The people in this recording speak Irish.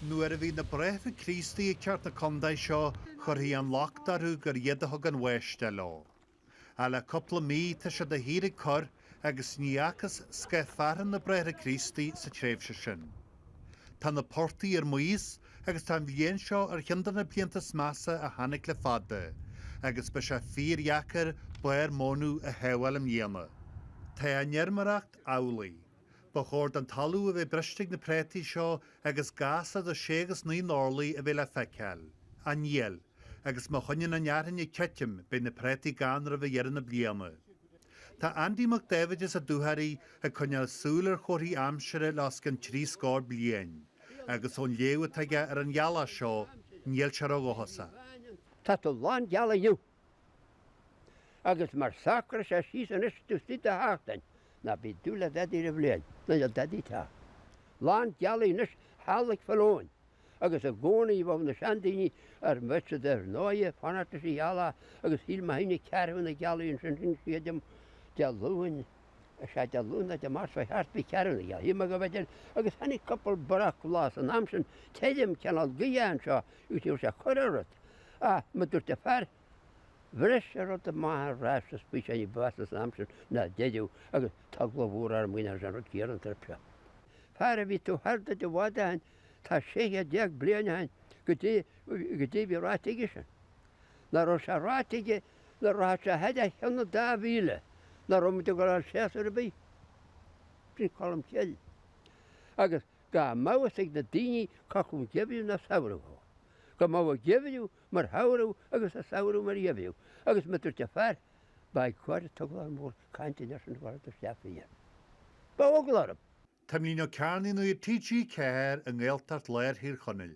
Nuair a bhí na Bráithre Críostaí ag teacht 'na condae seo chuirtí an locht orthu gur iad a thug an bháisteach leo. Ach le cúpla mí tá sé de shíor ag cur agus ní fhacthas scáth fearthainne ná Bráithre Críostaí sa tréimhse sin. Tá na portaigh ar maos agus tá an bhliain seo ar chionn de na blianta is measa a tháinig le fada agus beidh sé fíordheacair barr mónadh a shábháil i mbliana. Tá an fheirmeoireacht amhlaidh. Ba chóir don talamh a bheith briste ag na préataí seo agus gas idir sé agus naoi n-orlaí a bheith le feiceáil. Ach níl. Agus má choinníonn an fhearthainn ag titim, beidh na préataí gann roimh dheireadh na bliana. Tá Andy Mac Dáibhid as an Dúchoraidh ag coinneáil súil ar chomharthaí aimsire le os cionn trí scór bliain, agus ón léamh atá aige ar an ghealach seo, níl sé ródhóchasach. Tá tú lán gealaí inniu! Agus mura socraí sé síos anois taobh istigh de sheachtain, ná bí ag dúil le dadaí ar an bhliain ná le dadaí tá. Lán gealaí anois an ghealach folláin, agus i gcónaí bhíodh na seandaoine mar a deirtear ar ndóighe ag fanacht leis an ghealach agus shíl mé tháinig ceathrú na gealaí ansin sílim Dé Luain, Is é Dé Luain nó Dé Máirt ba cheart faoi cheathrú a shuim aige b'fhéidir, agus tháinig cúpla breaclá san am sin, tirim cineál gaoithe anseo agus ní raibh sé ag cur ar rud. Á, mar a dúirt an fear, bhris sé rud i mbarr an ráis is bhí sé ní ba mheasa san am sin ná a deireadh agus tá glár mór air muin ar sé an rud ar an trip seo. Fear a bhí tuaithe duit i bhfad ó shin, tá 16 céad bliain ó shin caidé, caidé a bhí ráite aige sin. Ná raibh sé ráite aige, nuair a rachadh sé a fhad chun an dá mhíle ná raibh muid ag gabháil a fháil séasúr ar bith sin Colm Cille agus nach mbeadh a fhios ag na daoine cé acu geimhreadh ná samhradh thú, go mbeadh an geimhreadh mar shamhradh agus an samhradh mar gheimhreadh agus mar a dúirt an fear ba ag gáire tá glár mór cainte leis an bhfear do cheap mé iad. Ba eagal orm. Taimlín Ó Cearnaigh Nuacht TG4 i nGaeltacht Láir Thír Chonaill.